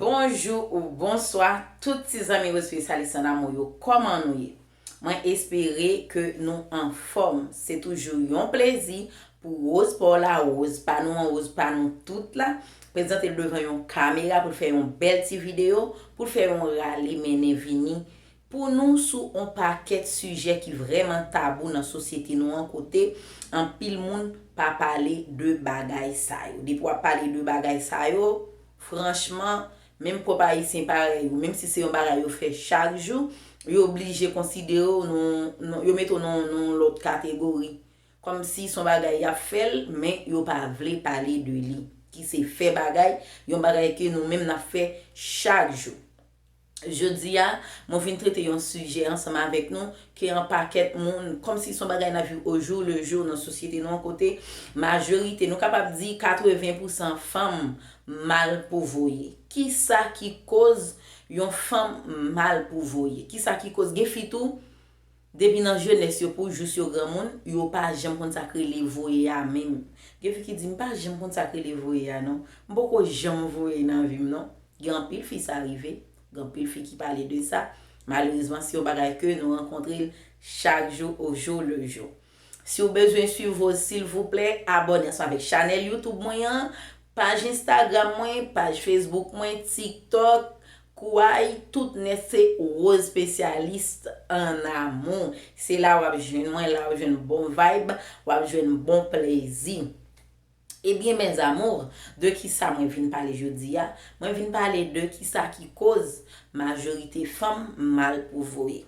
Bonjou ou bonswa tout ti zanmi Rosevie Salissant damou yo kòman nou ye mwen espere ke nou anfòm se toujou yon plezi pou Rose paw la Rose pa nou an Rose pa nou tout la prezantel devan yon kamera poul fè yon bèl ti video poul fè yon rale mennen vini pou nou sou on pakèt sijè ki vrèman tabou nan sosyete nou an kote anpil moun pa pale de bagay sa yo. Depi w ap pale de bagay sa yo, franchman, menm pwòp Ayisyen parèy ou, menm si se yon bagay yo fè chak jou, yo blije konsidere w nan on, yo mete w nan on lòt kategori. Kòmsi se yon bagay y ap fè l, men yo pa vle pale de li, ki se fè bagay, yon bagay ke nou menm n ap fè chak jou. Jodi a, mwen vin trete yon sijè ansanm avèk nou ke an pakèt moun, kòm si son bagay nap viv o jou le jou nan sosyete nou an kote majorite, nou kapab di 80 pou san fanm mal pou voye. Kisa ki koz yon fanm mal pou voye? Kisa ki koz? Gen fi tou Depi nan jenès yo pou jous yo granmoun, yo pa janm konn sa k rele voye a menm. Gen fi ki di, M pa janm konn sa k rele voye a non. M poko janm voye nan vi m non. Gen anpil fi sa rive. Gen anpil fi ki pale de sa. Malerezman, se yon bagay ke nou rankontre l chak jou au jour le jour. Si w bezwen swiv Rose silvouplè abòne ansanm avèk chanèl YouTube mwen an, paj Instagram mwen, paj Facebook mwen, TikTok, Kouay tout nèt se Rose specialiste en amour se la wap jwenn mwen la wap jwenn bon vibe wap jwenn bon plezi ebyen mes amours de kisa mwen vin pale jodi a mwen vin pale de kisa ki koz majorite fanm mal pou voye.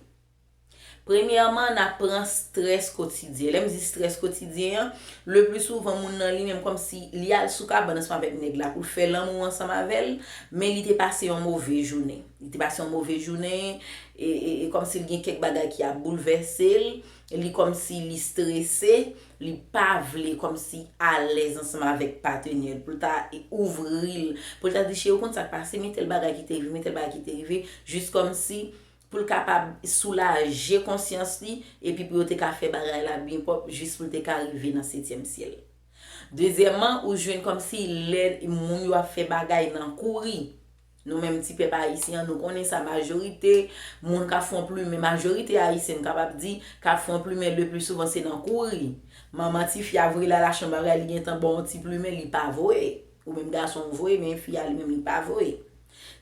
Premyèman, n ap pran strès kotidyen. Lè m di strès kotidyen an, lepli souvan moun nan li menm kòmsi li al sou kabann ansanm avèk nèg la pou l fè lanmou ansanm avè l, men li te pase yon move jounen. Li te pase yon move jounen, e, e, e kòmsi l gen kèk bagay ki ap boulvèse l, li kòmsi li strese, li pa vle kòmsi alèz ansanm avèk patenè l pou l ta ouvri l, pou l ta di cheri ou konn sa k pase, men tèl bagay ki te rive, men tèl bagay ki te rive, jis kòmsi pou l kapab soulaje konsyans li epi pou yo te ka fè bagay la byen pwòp jis pou l te ka rive nan setyèm syèl. Dezyèman, ou jwenn kòmsi lè moun yo ap fè bagay nan kouri, nou menm ti pèp ayisyen an, nou konnen sa majorite moun k ap fon plimen, majorite ayisyen m kapab di, k ap fon plimen lepli souvan se nan kouri. Manman tifi a voye l al achte yon bagay li gentan ba w yon ti plimen li pa voye, ou menm gason ou voye men fi a li menm li pa voye.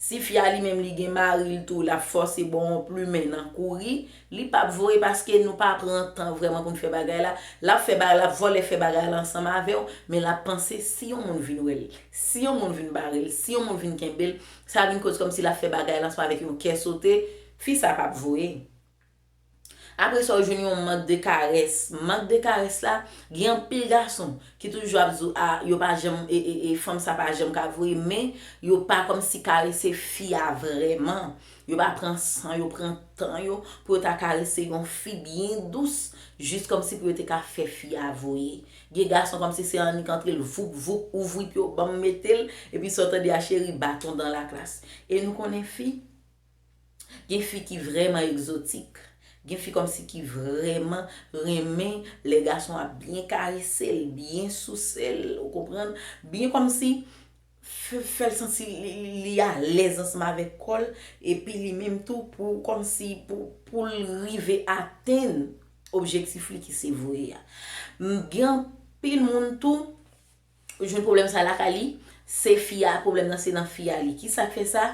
Si fi a li menm li gen maril tou lap fòse bon on plumen nan kouri li pap voye paske nou pa pran tan vrèman poun fè bagay la lap fè bagay lap vòlè fè bagay la ansanm avèw men lap panse si yon moun vin wèl si yon moun vin barel si yon moun vin kenbel sa vin koz kòmsi lap fè bagay la ansanm avèk yon kè sote fi sa pap voye. Aprè sa ou jwenn yon mank de karès. Mank de karès la, gen anpil gason ki toujou ap di w a yo pa janm e fanm sa pa janm ka voye men yo pa kòmsi karese fi a vrèman. Yo pa pran san yo, pran tan yo pou yo ta karese yon fi byen dous jis kòmsi pou yo te ka fè fi a voye. Gen gason kòmsi se annik antre l voup voup, ouvri pye w ban m mete l epi sa w tande a cheri baton dan laklas. E nou konnen fi. Gen fi ki vrèman egzotik. Gen fi kòmsi ki vrèman renmen lè gason ap byen karese l, byen souse l, ou konprann, byen kòmsi fè l santi li alèz ansanm avèk kò l epi li menm tou pou kòmsi pou l rive atenn objektif li ki se voye a. Gen anpil moun tou Li jwenn pwoblèm sa lakay li, se fi a, pwoblèm nan se nan fi a li. Ki sa k fè sa?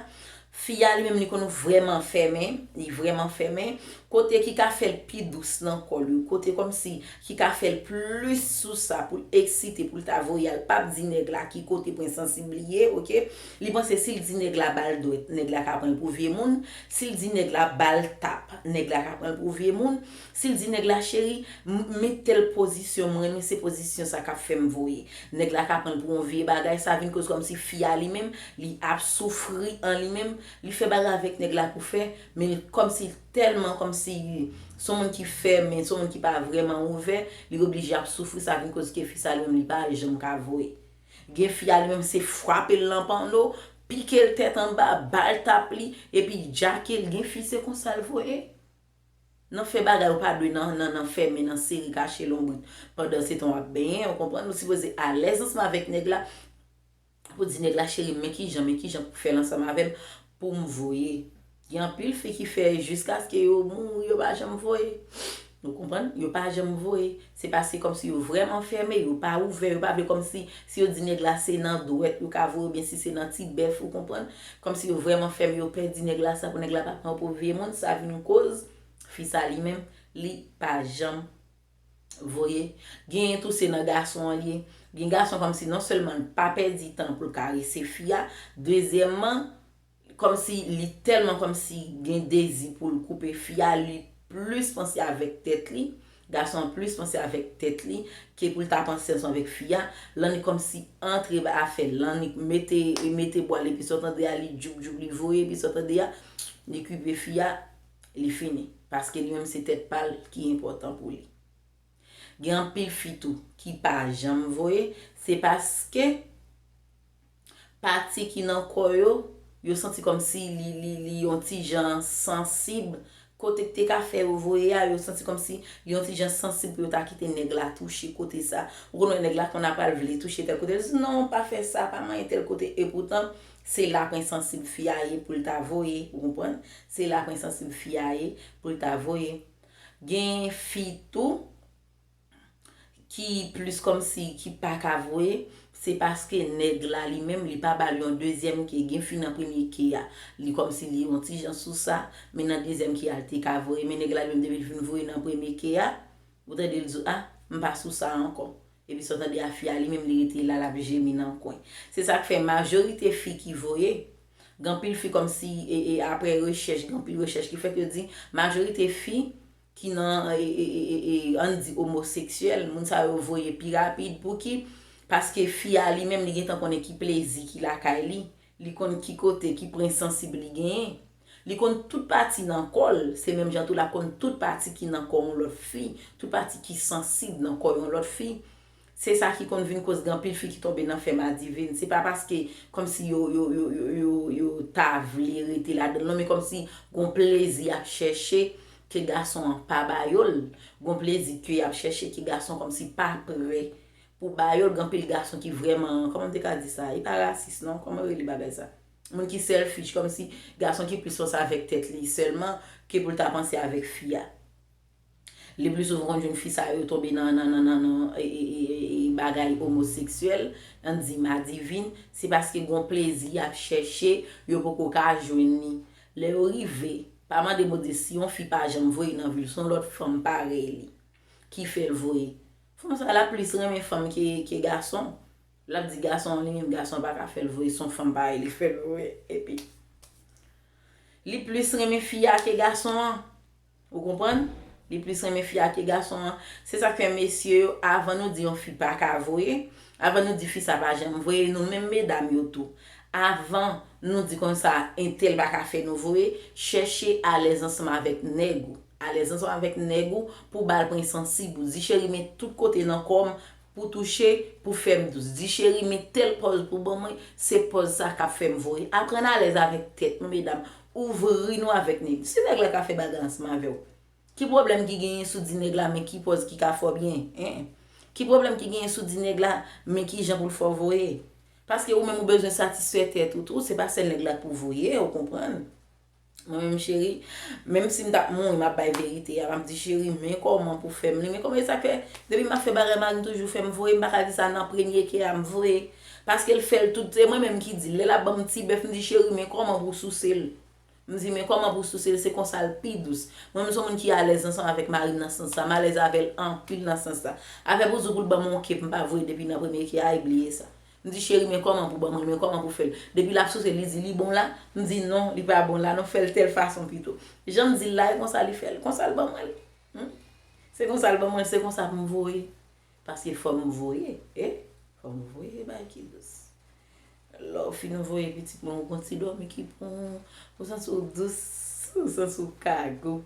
Fi a li menm li konn vrèman fèmen, li vrèman fèmen, kote ki ka fè l pi dous nan kò l yo, kote kòmsi ki ka fè l plis sou sa pou l eksite, pou l ta voye al, pa p di nèg la ki kote pwen sansib li ye, ok. Li panse si l di nèg la ba l dwèt, nèg la ka pran l pou vye moun, si l di nèg la ba l tap, nèg la ka pran l pou vye moun. Sil di nèg la cheri m metel pozisyon m renmen se pozisyon sa kap fèm voye nèg la ka pranl pou yon vye bagay sa vin koz kòmsi fi a li menm li ap soufri an li menm li fè bagay avèk nèg la pou fè men l kòmsi l tèlman kòmsi li son moun ki fèmen son moun ki pa vrèman ouvè li oblije ap soufri sa vin koz ke fi sa li menm li pa janm ka voye gen fi a li menm se fwapel nan panno pikel tèt anba bal tap li epi jakel gen fi se konsal voye Nan fè bagay ou pa dwe nan nan nan fèmen nan seri kache lonbrit pandan se tan wap benyen ou konprann ou sipoze alèz ansanm avèk nèg la pou di nèg la cherim men kijan men kijan pou fèl ansanm avèm poum voye gen anpil fi ki fè jiskaske yo mouri yo pa janm voye ou konprann yo pa janm voye Se paske kòmsi yo vrèman fèmen, yo pa ouvè, yo pa vle kòmsi si yo di nèg la se nan dwèt yo ka voye oubyen si se nan ti bèf ou konprann, kòmsi yo vrèman fèmen yo pè di nèg la sa pou nèg la pa pran yo pou vye moun sa vin koz fi sa li menm li pa janm voye. Genyen tou se nan gason an li ye, gen gason kòmsi non sèlman l pa pèdi tan pou l karese fi a, dezyèmman Kòmsi li tèlman kòmsi gen dezi poul koupe fi a li plis panse avèk tèt li, gason an plis panse avèk tèt li ke poul ta panse ansanm avèk fi a, Lannik kòmsi antre ba afè Lannik mete mete bwal epi sa w tande a li djoub djoub li voye epi sa w tande a li kupe fi a li fini paske li menm se tèt pa l ki enpòtan pou li gen anpil fi tou ki pa janm voye se paske pati ki nan kò yo, yo santi kòmsi li li li yon ti jan sansib, kote k te ka fè yo voye a, yo santi kòmsi li yon ti jan sansib pou yo ta kite nèg la touche kote sa. Ou konn wè nèg la konn apral vle touche tèl kote, l di non pa fè sa, pa manyen tèl kote, epoutan se la pwen sansib fi a ye pou l ta voye, ou konprann, se la pwen sansib fi a ye pou l ta voye. Gen fi tou. ki plis kòmsi ki paka voye se paske nèg la li menm li pa bal yon dezyèm ke gen fi nan premye ke a li kòmsi li yon ti jan sou sa men nan dezyèm ke a li te ka voye men nèg la li menm depi li fin voye nan premye ke a ou tande li di w ah m pa sou sa ankò epi sa w tande a fi a li menm li rete la l ap jemi nan kwen se sa k fè majorite fi ki voye gen anpil fi kòmsi e e aprè rechèch gen anpil rechèch ki fèt yo di majorite fi ki nan ann di omoseksyèl, moun sa yo voye pi rapid, pouki, paske fi a li menm li gentan konnen ki plezi ki lakay li, li konn ki kote, ki pwen sansib li genyen, li konn tout pati nan kò l, se menm jan tou l ap konn tout pati ki nan kò yon lòt fi, tout pati ki sansib nan kò yon lòt fi. Se sa ki konn vin koz gen anpil fi ki tonbe nan fè madivin. Se pa paske kòmsi yo yo ta vle rete ladanl non men kòmsi gon plezi yap chèche ke gason an pa ba yo l. Gon plezi ke yap chèche ke gason kòmsi pa prè pou ba yo l. Gen anpil gason ki vrèman, kòman m te ka di sa? E pa rasis non, kòman yo rele bagay sa? Moun ki selfish, kòmsi gason ki plis panse avèk tèt li sèlman ke pou l ta panse avèk fi a. Le plus souvent ou konn jwenn fi sa yo tonbe nan nan nan nan nan bagay omoseksyèl, nan di madivin, se paske gon plezi yap chèche yo poko ka jwenn li. Lè yo rive, pa mande Bondye si yon fi pa janm voye nan vi l, se yon lòt fanm parèy li ki fè l voye. Fanm sa lap plis renmen fanm ke ke gason. Lap di gason an li menm gason pa ka fè l voye, se yon fanm parèy li fè l voye. Epi li plis renmen fi a ke gason an. Ou konprann? Li plis renmen fi a ke gason an. Se sak fè mesye yo avan nou di yon fi paka voye, avan nou di fi sa pa janm voye e nou menm medam yo tou. Avan nou di kon sa entèl paka fè nou voye, chèche alèz ansanm avèk nèg ou. Alèz ansanm avèk nèg ou pou bal pwen sansib ou. Di cheri men tout kote nan kò m Pou touche, pou fèm dous. Di cheri men tèl pòz pou ban mwen, se pòz sa kap fèm voye. Aprann alèz avèk tèt nou medam, ouvri nou avèk nèg. Si nèg la ka fè bagy ansanm avèw, ki pwoblèm ki genyen si w di nèg la men ki pòz ki ka fè w byen? Hein? Ki pwoblèm ki genyen si w di nèg la men kijan pou l fè w voye? Paske ou menm ou bezwen satisfè tèt ou tou, se pa sèl nèg la k pou voye, ou konprann? Mwen menm cheri, menm si m tap mouri map bay verite a, map di cheri men kòman pou fèm li, men kòman e sa k fè depi map fè bagay marim toujou fèm vre, m pa ka di sa nan premye kè a m vre, paske l fèl tout, se mwen menm ki di l, lè lap banm ti bèf m di cheri men kòman pou souse l, m di men kòman pou souse l se konsa l pi dous. Mwen menm son moun ki alèz ansanm avèk marim nan sans sa, m alèz avèl anpil nan sans sa. Afè pou di w pou l banm on kè m pa vre depi nan premye kè a e bliye sa. M di cheri men kòman pou banm li men kòman pou fè l depi lap souse li di li bon la m di non li pa bon la non fè l tèl fason pito jan m di l la e konsa li fè l konsa l ban mwen l humm se konsa l ban mwen l se konsa pou m voye paske fò m voye e fò m voye bagay ki dous lè w fin voye pitit mwen ou gon ti dòmi ki pou ou santi w dous ou santi w ka gou.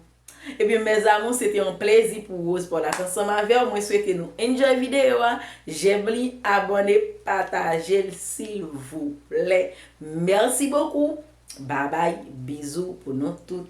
Ebyen mes amour se te yon plezi pou Rose Paulhasse ansanm avèw mwen swete nou enjoy video a jèm li abòne patajel silvouplè merci beaucoup babay bizou pou nou tout.